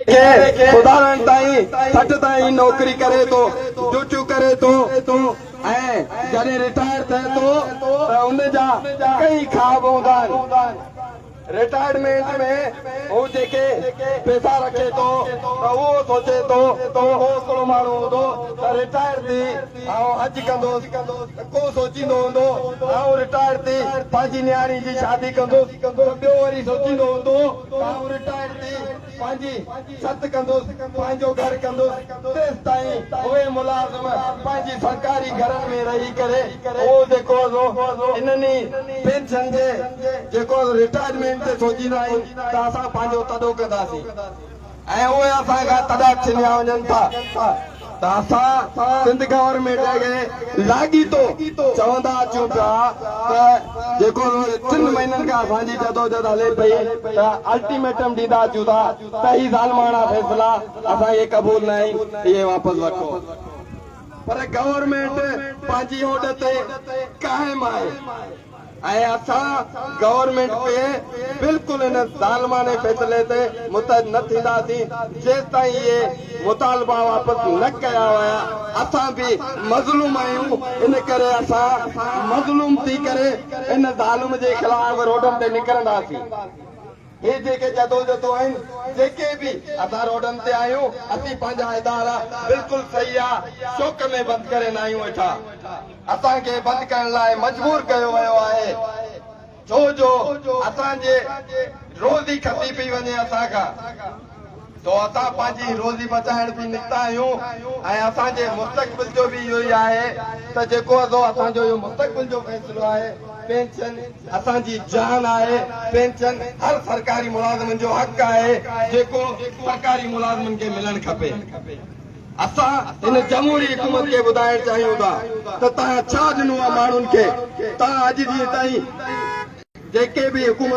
کي خداوند تائين سٺ تائين نوڪري ڪري ٿو، ڊيوٽيون ڪري ٿو ۽ جڏهن رٽائر ٿئي ٿو ته ان جا ڪيئي خواب هوندا آهن. رٽائرمينٽ ۾ هو جيڪي پئسا رکي ٿو ته اهو سوچي ٿو ته ڪو هڪڙو ماڻهو هوندو ته رٽائر ٿي آئون حج ڪندوس ته ڪو سوچيندو هوندو آئون رٽائر ٿي پنهنجي نياڻي جي شادي ڪندوس ته ٻيو وري سوچيندو هوندو آئون رٽائر ٿي پنهنجي ست ڪندس، پنهنجو گهر ڪندس، تيستائين اهي ملازم پنهنجي سرڪاري گهرن ۾ رهي ڪري اهو جيڪو انهن ئي پينشن جي جيڪو رٽائرمينٽ تي سوچيندا آهن ته اسان پنهنجو تڏو ڪنداسين. ۽ اهي اسان کان تڏهن ڇنيا وڃن ٿا ته اسان سنڌ گورنمينٽ کي لاڳيتو چوندا اچون پيا ته جيڪو ٽن مهينن کان اسان جي جدوجھد هلي پئي ته الٽيميٽم ڏيندا اچون ٿا ته هي ظالماڻا فيصلا اسان کي قبول نه آهن اهي واپس وٺو پر گورنمينٽ پنهنجي هوڏ تي قائم آهي. ۽ اسان گورنمينٽ پي بلڪل ان ظالمانه فيصلي تي متحد نه ٿينداسين جيستائين اهي مطالبا واپس نه ڪيا ويا اسان به مظلوم آهيون ان ڪري اسان مظلوم ٿي ڪري ان ظالم جي خلاف روڊن تي نڪرنداسين. اهي جيڪي جدوجھدون آهن جيڪي به اسان روڊن تي آهيون اسين پنهنجا ادارا بلڪل سياح شوق ۾ بند ڪري ناهيون ويٺا اسان کي بند ڪرڻ لاء مجبور ڪيو ويو آهي ڇو جو اسان جي روزي کسي پئي وڃي اسان کان. تو اسان پنهنجي روزي بچائڻ به نڪتا آهيون ۽ اسان جي مستقبل جو به اهو ئي آهي ته جيڪو ازو اسان جو اهو مستقبل جو فيصلو آهي، پينشن اسان جي جان آهي، پينشن هر سرڪاري ملازمن جو حق آهي جيڪو سرڪاري ملازمن کي ملڻ کپي. اسان هن جمهوري حڪومت کي ٻڌائڻ چاهيون ٿا ته توهان ڇا ڏنو آهي ماڻهن کي؟ توهان اڄ ڏينهن تائين جيڪي به حڪومتون.